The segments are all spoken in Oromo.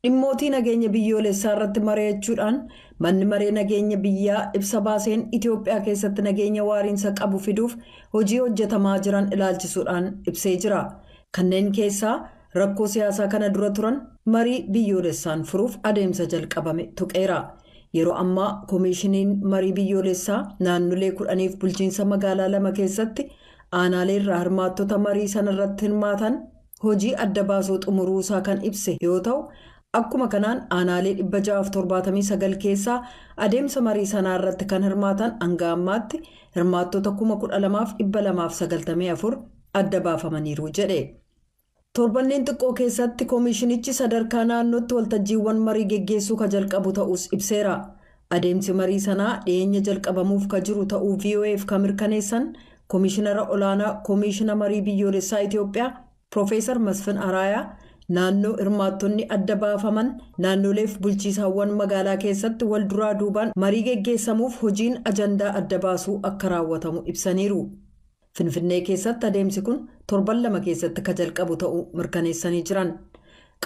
Dhimmootii nageenya biyyoolessaa irratti mari'achuudhaan Manni Maree Nageenya Biyyaa ibsa baaseen Itoophiyaa keessatti nageenya waariinsa qabu fiduuf hojii hojjetamaa jiran ilaalchisuudhaan ibsee jira. Kanneen keessaa rakkoo siyaasaa kana dura turan marii biyyoolessaan furuuf adeemsa jalqabame tuqeera. Yeroo ammaa Komiishiniin Marii Biyyoolessaa naannolee kudhaniif bulchiinsa magaalaa lama keessatti aanaalee irraa hirmaattota marii sana irratti hirmaatan, hojii adda baasuu xumuruu isaa kan ibse yoo ta'u, akkuma kanaan aanaalee 679 keessaa adeemsa marii sanaa irratti kan hirmaatan hanga ammaatti hirmaattota 12,294 adda baafamaniiru jedhe. Torbanneen xiqqoo keessatti komiishinichi sadarkaa naannootti waltajjiiwwan marii geggeessuu ka jalqabu ta'uus ibseera. Adeemsi marii sanaa dhiyeenya jalqabamuuf ka jiru ta'uu VOA'f ka mirkaneessan Komishinara Olaanaa Komiishina Marii Biyyoolessaa Itiyoophiyaa Pirofeesar Masfin Araayaa, naannoo hirmaattonni adda baafaman naannoleef bulchiisaawwan magaalaa keessatti wal duraa duubaan marii geggeessamuuf hojiin ajandaa adda baasuu akka raawwatamu ibsaniiru. Finfinnee keessatti adeemsi kun torban lama keessatti ka jalqabu ta'uu mirkaneessanii jiran.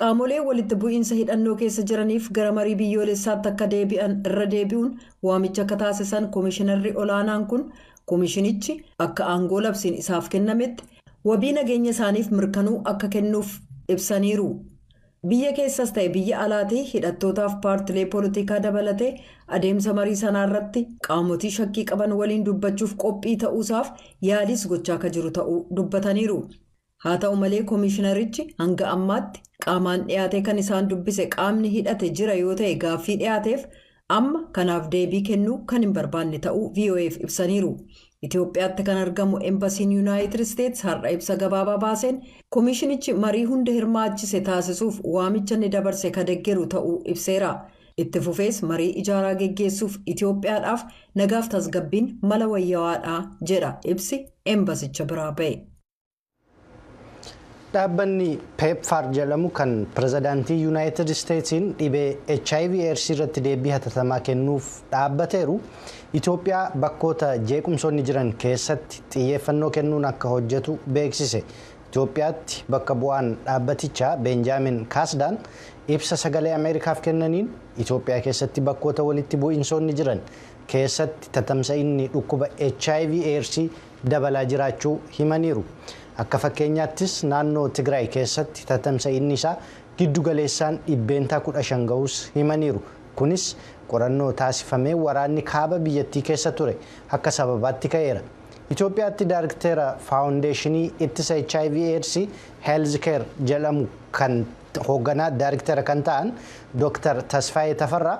Qaamolee walitti bu'iinsa hidhannoo keessa jiraniif gara marii biyyoolessaatti akka deebi'an irra deebi'uun waamicha akka taasisan komishinarri olaanaan kun komishinichi akka aangoo labsiin isaaf kennametti wabii nageenya isaaniif mirkanuu akka kennuuf ibsaniiru. Biyya keessas ta'e biyya alaatii hidhattootaaf paartilee poolitiikaa dabalatee adeemsa marii sanaa irratti qaamotii shakkii qaban waliin dubbachuuf qophii ta'uusaaf yaaliis gochaa ka jiru ta'uu dubbataniiru. Haa ta'u malee komiishinarichi hanga ammaatti qaamaan dhiyaatee kan isaan dubbise qaamni hidhate jira yoo ta'e gaaffii dhiyaateef Amma kanaaf deebii kennuu kan hin barbaanne ta'uu VOA'f ibsaniiru. Itoophiyaatti kan argamu Embasiin Yunaayitid Isteets har'a ibsa gabaabaa baaseen, Komiishinichi marii hunda hirmaachise taasisuuf waamicha inni dabarse ka deggeru ta'uu ibseera. Itti fufees marii ijaaraa geggeessuuf Itoophiyaadhaaf nagaaf tasgabbiin mala wayyawaadha, jedha ibsi Embasicha biraa ba'e. Dhaabbanni Peepfaar jedhamu kan pirezidaantii Yuunaayitid Isteetsiin dhibee HIV AIDS irratti deebii hatattamaa kennuuf dhaabbateeru Itoophiyaa bakkoota jeequmsoonni jiran keessatti xiyyeeffannoo kennuun akka hojjetu beeksise. Itoophiyaatti bakka bu'aan dhaabbatichaa Beenjaamin Kaasdaan ibsa sagalee Ameerikaaf kennaniin Itoophiyaa keessatti bakkoota walitti bu'insoonni jiran keessatti tatamsa'inni dhukkuba HIV AIDS dabalaa jiraachuu himaniiru. Akka fakkeenyaattis naannoo Tigraay keessatti tatamsa'inni isaa giddu galeessaan dhibbeentaa 15 ga'uus himaniiru. Kunis qorannoo taasifameen waraanni kaaba biyyattii keessa ture akka sababaatti ka'eera. Itoophiyaatti daarikteera faawundeeshinii ittisa hiv eedsii Health Care jedhamu kan hoogganaa daarikteera kan ta'an Dr. Tasfaayee Tafarraa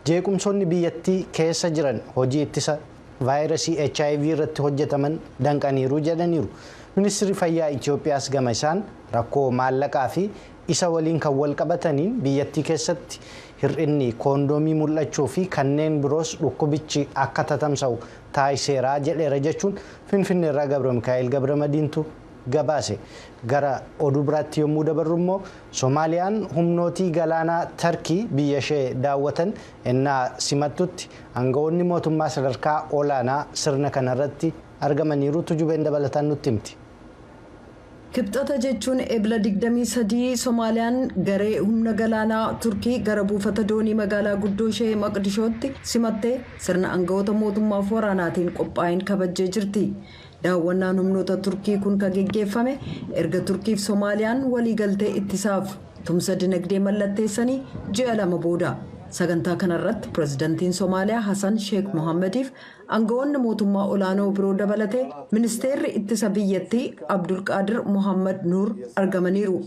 jeequmsoonni biyyattii keessa jiran hojii ittisa vaayirasii hiv irratti hojjetaman danqaniiru jedhaniiru. Ministirri Fayyaa Itiyoophiyaas gama isaan rakkoo maallaqaa fi isa waliin kan walqabataniin biyyattii keessatti hir'inni koondoomii mul'achuu fi kanneen biroos dhukkubichi akka tatamsa'u taasiseera jedheera jechuun Finfinneerraa Gabramikaa'el Gabramadiintu gabaase. Gara oduu biraatti yommuu dabarru immoo Somaaliyaan humnootii galaanaa Tarkii biyya ishee daawwatan ennaa simattutti aanga'oonni mootummaa sadarkaa olaanaa sirna kanarratti argamaniiru Tujubeen dabalataan nutti himti. Kibxata jechuun Ebla 23 Somaaliyaan garee humna galaanaa Turkii gara buufata doonii magaalaa guddoo ishee Maqdishootti simattee sirna aanga'oota mootummaaf waraanaatiin qophaa'een kabajjee jirti. Daawwannaan humnoota Turkii kun ka geggeeffame erga Turkiif Somaaliyaan waliigaltee ittisaaf tumsa dinagdee mallatteessanii ji'a lama booda. Sagantaa kanarratti Pirezidantiin Somaaliyaa Hasan Sheek Mohaammediif angawoonni mootummaa olaanoo biroo dabalatee ministeerri ittisa biyyattii Abdulqaadir Mohaammad Nuur argamaniiru.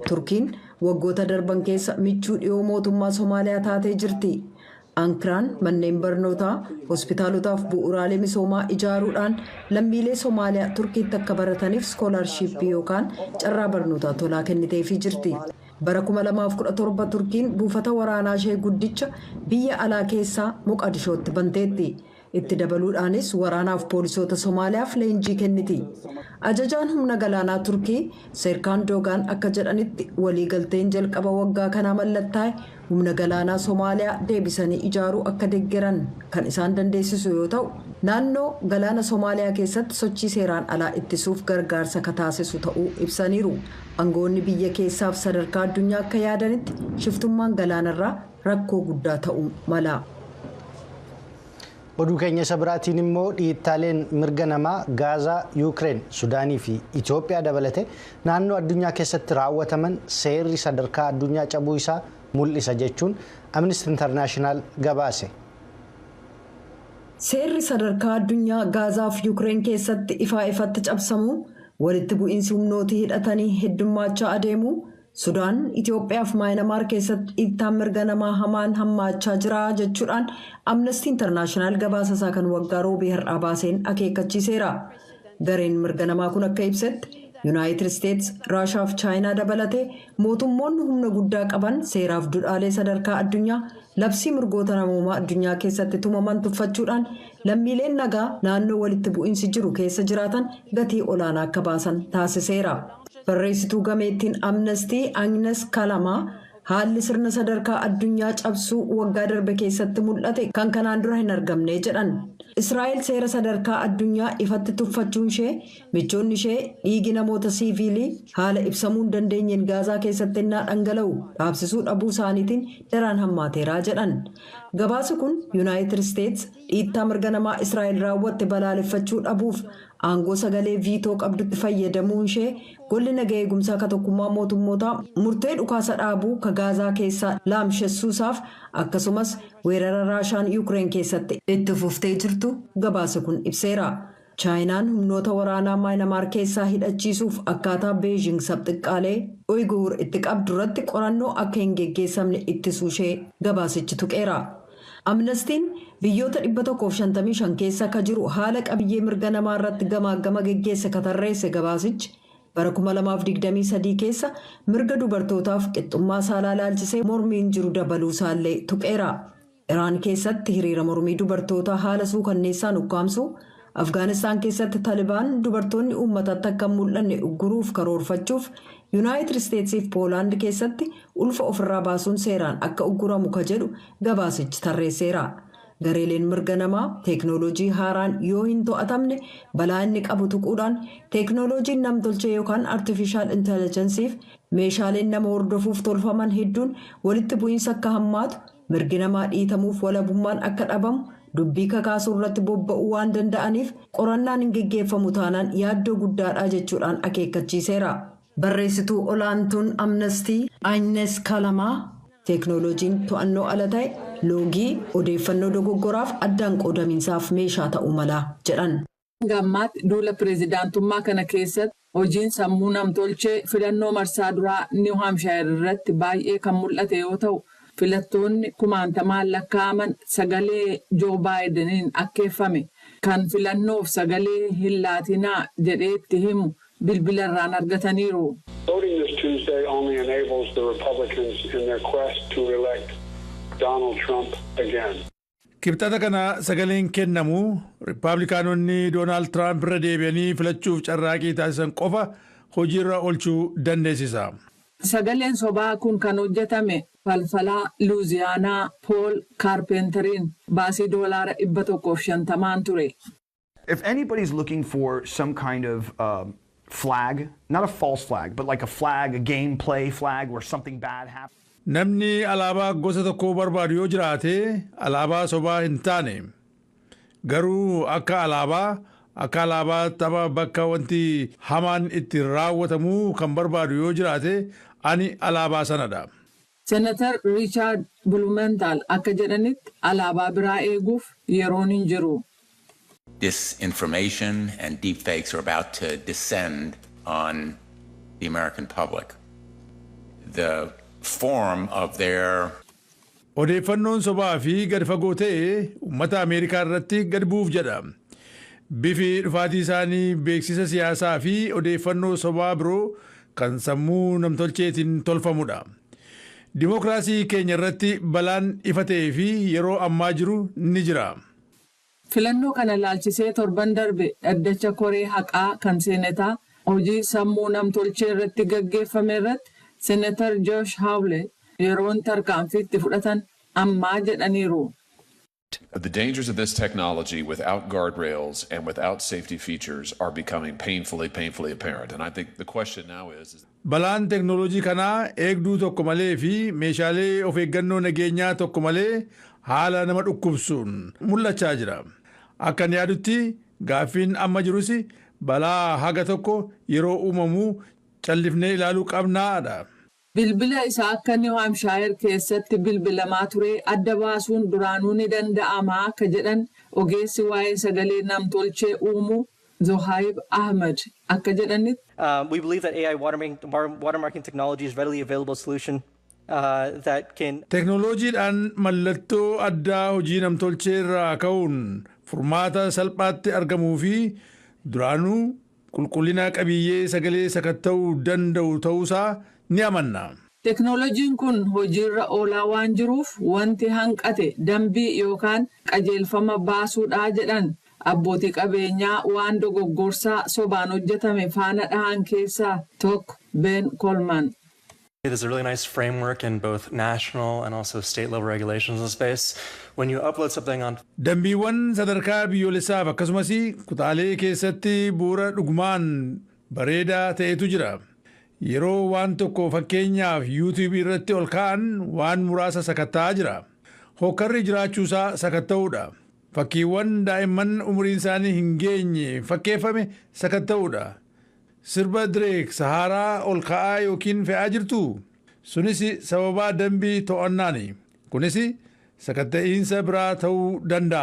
Turkiin waggoota darban keessa michuu dhiyoo mootummaa Somaaliyaa taatee jirti. Aankraan manneen barnootaa, hospitaalotaaf bu'uuraalee misoomaa ijaaruudhaan lammiilee Somaaliyaa Turkiitti akka barataniif skoolaarshiippii yookaan carraa barnootaa tolaa kenniteefii jirti. Bara 2017 Turkiin buufata waraanaashee guddicha biyya alaa keessaa Moqadishootti banteetti. Itti dabaluudhaanis waraanaaf poolisoota Somaaliyaaf leenjii kenniti. Ajajaan humna galaanaa Turkii Serkaan Doogaan akka jedhanitti waliigalteen jalqaba waggaa kanaa mallattaa'e humna galaanaa Somaaliyaa deebisanii ijaaruu akka deggeran kan isaan dandeessisu yoo ta'u, naannoo galaana Somaaliyaa keessatti sochii seeraan alaa ittisuuf gargaarsa ka taasisu ta'uu ibsaniiru. Angawoonni biyya keessaaf sadarkaa addunyaa akka yaadanitti shiftummaan galaanarraa rakkoo guddaa ta'uu mala. Oduu keenya isa biraatiin immoo dhiittaaleen mirga namaa Gaazaa, Yuukireen, Sudaanii fi Itoophiyaa dabalate naannoo addunyaa keessatti raawwataman seerri sadarkaa addunyaa cabuu isaa mul'isa jechuun Amnesty International gabaase. Seerri sadarkaa addunyaa Gaazaa fi Yuukireen keessatti ifaa ifatti cabsamuu, walitti bu'iinsi humnootii hidhatanii heddummaachaa adeemuu, Sudaan Itoophiyaa fi Maayinamaar keessatti dhiittaan mirga namaa hamaan hammaachaa jira jechuudhaan Amnestii Intarnaashinaal gabaasa isaa kan waggaa roobii har'aa baaseen akeekkachiiseera. Gareen mirga namaa kun akka ibsetti Yunaayitid Isteets, Raashaa fi Chaayinaa dabalatee mootummoonni humna guddaa qaban seeraaf dudhaalee sadarkaa addunyaa labsii mirgoota namoomaa addunyaa keessatti tumaman tuffachuudhaan lammiileen nagaa naannoo walitti bu'iinsi jiru keessa jiraatan gatii olaanaa akka baasan taasiseera. Barreessituu gameettiin Amnestii Agnes Kalamaa haalli sirna sadarkaa addunyaa cabsuu waggaa darbe keessatti mul'ate kan kanaan dura hin argamne jedhan. Israa'el seera sadarkaa addunyaa ifatti tuffachuun ishee michoonni ishee dhiigi namoota siiviilii haala ibsamuu hin dandeenyeen Gaazaa keessatti ennaa dhangala'u dhaabsisuu dhabuu isaaniitiin daraan hammaateeraa jedhan. Gabaasi kun Yunaayitid Isteets dhiittaa mirga namaa Israa'el raawwatte balaaleffachuu dhabuuf aangoo sagalee viitoo qabdutti fayyadamuun ishee golli naga eegumsaa ka tokkummaa mootummootaa murtee dhukaasa dhaabuu ka Gaazaa keessaa laamshessuu isaaf akkasumas weerara Raashaan Yuukreen keessatti itti fuftee jirtu gabaasi kun ibseera. Chaayinaan humnoota waraanaa Maayinamaar keessaa hidhachiisuuf akkaataa Beejiing sab-xiqqaalee Uyguur itti qabdu irratti qorannoo akka hin geggeessamne ittisuu ishee gabaasichi tuqeera. Amnestiin biyyoota 155 keessa akka jiru haala qabiyyee mirga namaa irratti gamaaggama geggeesse ka tarreesse gabaasichi, bara 2023 keessa mirga dubartootaaf qixxummaa saalaa ilaalchisee mormiin jiru dabaluu isaallee tuqeera. Iraan keessatti hiriira mormii dubartootaa haala suukanneessaan ukkaamsuu, Afgaanistaan keessatti Talibaan dubartoonni uummatatti akka hin mul'anne ugguruuf karoorfachuuf, Yunaayitid Isteetsii fi Poolaand keessatti ulfa ofirraa baasuun seeraan akka ugguramu ka jedhu gabaasichi tarreesseera. Gareeleen mirga namaa teeknooloojii haaraan yoo hin to'atamne balaa inni qabu tuquudhaan teeknooloojiin namtolchee yookaan artifishaal intaalajansiif meeshaaleen nama hordofuuf tolfaman hedduun walitti bu'iinsa akka hammaatu, Mirgi namaa dhiitamuuf walabummaan akka dhabamu dubbii kakaasuu irratti bobba'uu waan danda'aniif qorannaan hin geggeeffamu taanaan yaaddoo guddaadha jechuudhaan akeekkachiiseera. Barreessituu olaantuun Amnestii Anynes Kalamaa teeknooloojiin to'annoo ala ta'e loogii, odeeffannoo dogoggoraaf addaan qoodaminsaaf meeshaa ta'uu mala jedhan. Hanga ammaatti duula pireezidaantummaa kana keessatti hojiin sammuu nam-tolchee filannoo marsaa duraa Niiw Haamshaayir irratti baay'ee kan mul'ate yoo ta'u, filattoonni kumaantamaan lakkaa'aman sagalee Joo Baayideniin akkeeffame kan filannoof sagalee hin laatinaa jedhee itti himu bilbila irraan argataniiru. Voting this Tuesday only enables the Republicans in their quest to elect Donald Trump again. Kibxata kana sagaleen kennamu Rippaablikaanonni Doonaald Tiraamp irra deebi'anii filachuuf carraaqii taasisan qofa hojiirra olchuu dandeessisa. Sagaleen sobaa kun kan hojjetame falfalaa Luuziyaanaa Pool Kaarpeenteriin baasii doolaara dhibba tokkoo fi shantamaan ture. If anybody's looking for some kind of um, flag, not a false flag, but like a flag, a gameplay flag where something bad happens. Namni alaabaa gosa tokkoo barbaadu yoo jiraate alaabaa sobaa hin taane garuu akka alaabaa akka alaabaa tapha bakka wanti hamaan itti raawwatamu kan barbaadu yoo jiraate ani alaabaa sanadha. Senatar Riichaard Buluumentaal akka jedhanitti alaabaa biraa eeguuf yeroon hin jiru. disinformation and deepfakes are about to descend on the American public. The form of their. Odeeffannoon sobaa fi gad fagoo ta'e ummata Ameerikaa irratti gad bu'uuf jedha. Bifi dhufaatii isaanii beeksisa siyaasaa fi odeeffannoo sobaa biroo kan sammuu namtolcheetiin tolfamudha. Dimookiraasii keenya irratti balaan ifa ta'ee fi yeroo ammaa jiru ni jira. Filannoo kana ilaalchisee torban darbe dhaddacha koree haqaa kan seenetaa hojii sammuu namtolchee irratti gaggeeffame irratti Senator Josh Hawley yeroon tarkaanfii itti fudhatan ammaa jedhaniiru. The dangers of this technology without guardrails and without safety features are becoming painfully, painfully apparent. And I think the question now is, is. Balaan teknolojii kanaa eegduu tokko malee fi meeshaalee of eeggannoo nageenyaa tokko malee haala nama dhukkubsuun mul'achaa jira. Akkan yaadutti gaaffiin amma jirus balaa haga tokko yeroo uumamu callifnee ilaaluu qabnaa dha. Bilbila isa akka New Hampshire keessatti bilbilamaa ture adda baasuun duraanuu ni danda'ama akka jedhan ogeessi waa'ee sagalee nam-tolchee uumuu Zohaib Ahmed akka jedhanitti, Um, we believe that AI watermarking, water- watermarking technology is readily available solution uh, that can Teknooloojiidhaan mallattoo addaa hojii namtolchee irraa ka'uun furmaata salphaatti argamuu fi duraanuu qulqullina qabiyyee sagalee sakatta'uu danda'u ta'uusaa ni amanna. Teknoolojiin kun hojiirra oolaa waan jiruuf wanti hanqate dambii yookaan qajeelfama baasuudha jedhan. Abbootii qabeenyaa waan dogoggorsaa sobaan hojjetame faana dhahan keessaa tokko Ben Coleman. There's a really nice framework in both national and also state level regulations in the space. When you upload something on Dambiiwwan sadarkaa biyyoolessaaf akkasumas kutaalee keessatti bu'uura dhugumaan bareedaa ta'etu jira. Yeroo waan tokko fakkeenyaaf YouTube irratti ol kaa'an waan muraasa sakatta'aa jira. Hokkarri jiraachuusaa sakatta'uudha. Fakkiiwwan daa'imman umuriin isaanii hin geenye fakkeeffame sakatta'uudha. Sirba Drake sahaaraa ol ka'aa ykn fe'aa jirtu? Sunis sababaa dambii to'annaani. Kunis sakatta'iinsa biraa ta'uu danda'a.